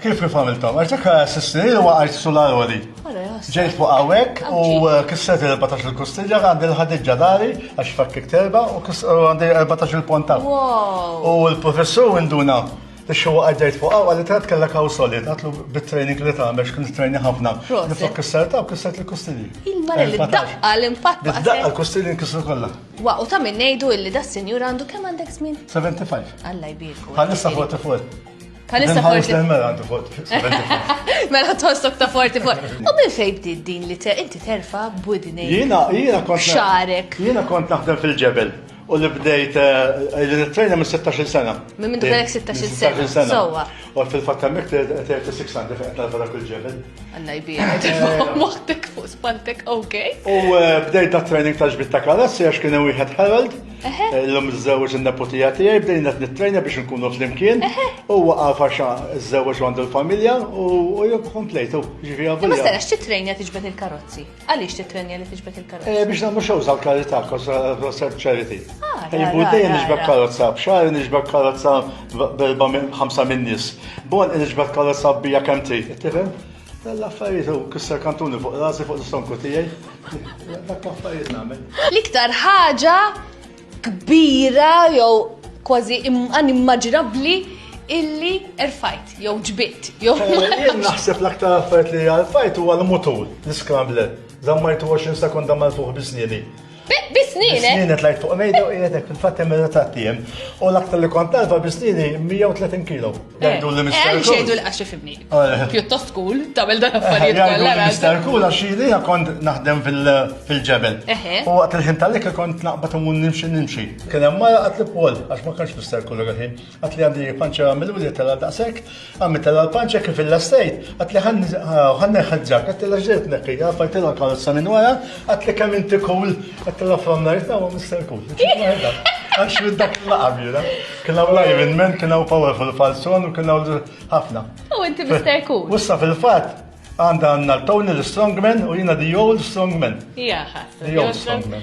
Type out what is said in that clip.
Kif kif għamiltom? Għaxek s-snin li waqajt sularoli. Ġejt fuq għawek u eh, kisset il-14 il-kustilja għandi l-ħadidġa dari għax fakkik terba u għandi il-14 il-ponta. U l-professur induna Ixu għaddejt fuq għaw, għalli trat kella kaw solid, għatlu bit-training li ta' mex kien training ħafna. Nifok kisser ta' u kisser li kustili. Il-mara li daqqa l-impatt. Daqqa l-kustili nkisru kolla. Wa, u ta' minn nejdu illi da' senjur għandu kem għandek smin? 75. Alla jbirku. Għallissa 44. Palissa forti. Mela għandu forti. Mela tostok ta' forti forti. U minn fejn bdiet din li inti terfa budni. Jiena, jiena kont. Xarek. Jiena kont naħdem fil-ġebel. U li bdejt eh, li nitrejna minn 16 sena. Minn minn kellek 16 sena. Sowa. U fil-fatt hemmhekk 36 għandi fejn qed dak il-ġebel. Alla jbierek. Eh. Moħtek fuq spantek, ok. U eh, bdejt da training ta' ġbit ta' kalassi għax kien wieħed Harold. Illum iżżewġ in-neputija tiegħi bdejna qed nittrejna biex nkunu flimkien. Huwa għafa xa iżżewġ għandu l-familja u jibqa' komplejtu. Ġifi għafu. Ma setax titrejna tiġbed il-karozzi. Għaliex titrejna li tiġbed il-karozzi? Eh, biex nagħmlu xogħol sal karità kosar ċariti. Ah, Jibbu dejjem niġbed karozza, b'xar niġbed karozza berba minn ħamsa minn nies. Bon niġbed karozza bija kemm trid, tifhem? Dan l-affarijiet u kisser kantuni fuq rasi fuq l-istonku tiegħi. Dak l-affarijiet nagħmel. L-iktar ħaġa kbira jew kważi inimmaġinabbli illi erfajt jew ġbitt jew. Eh, jien naħseb l-aktar affarijiet li erfajt huwa l-mutur, l-scrambler. Zammajtu 20 sekonda mal-fuq bisnieni. Bisnini. Bisnini tlajt fuq mejda u jgħetek fil-fatt hemm ta' tiem. U l-aktar li kont talba bisnini 130 kilo. Eh, Għajdu li mister. Għajdu xejdu li għaxi fimni. Eh. Pjuttost kull, tamil dan affarijiet eh, kollha. Mister kull għax jili kont naħdem fil-ġebel. U għat il-ħin tal-lek kont naqbat u nimxi nimxi. Kien hemm mara għat li pol għax ma kienx mister kull għahin. Għat li għandi panċa għamilu li tela daqsek, għammi tela l-panċa kif il-lastejt, għat li għanni ħadġak, għat li ġiet nekki, għafajt il karozza minn wara, għat li kam inti kull, għat li from night now, Mr. Cool. Għax minn dak l-għabjura, kienaw live in men, kienaw powerful falson, u kienaw ħafna. U inti Mr. Cool. Wissa fil-fat, għanda għanna l-Tony l-Strongman u jina the old strongman. Jaha, the old strongman.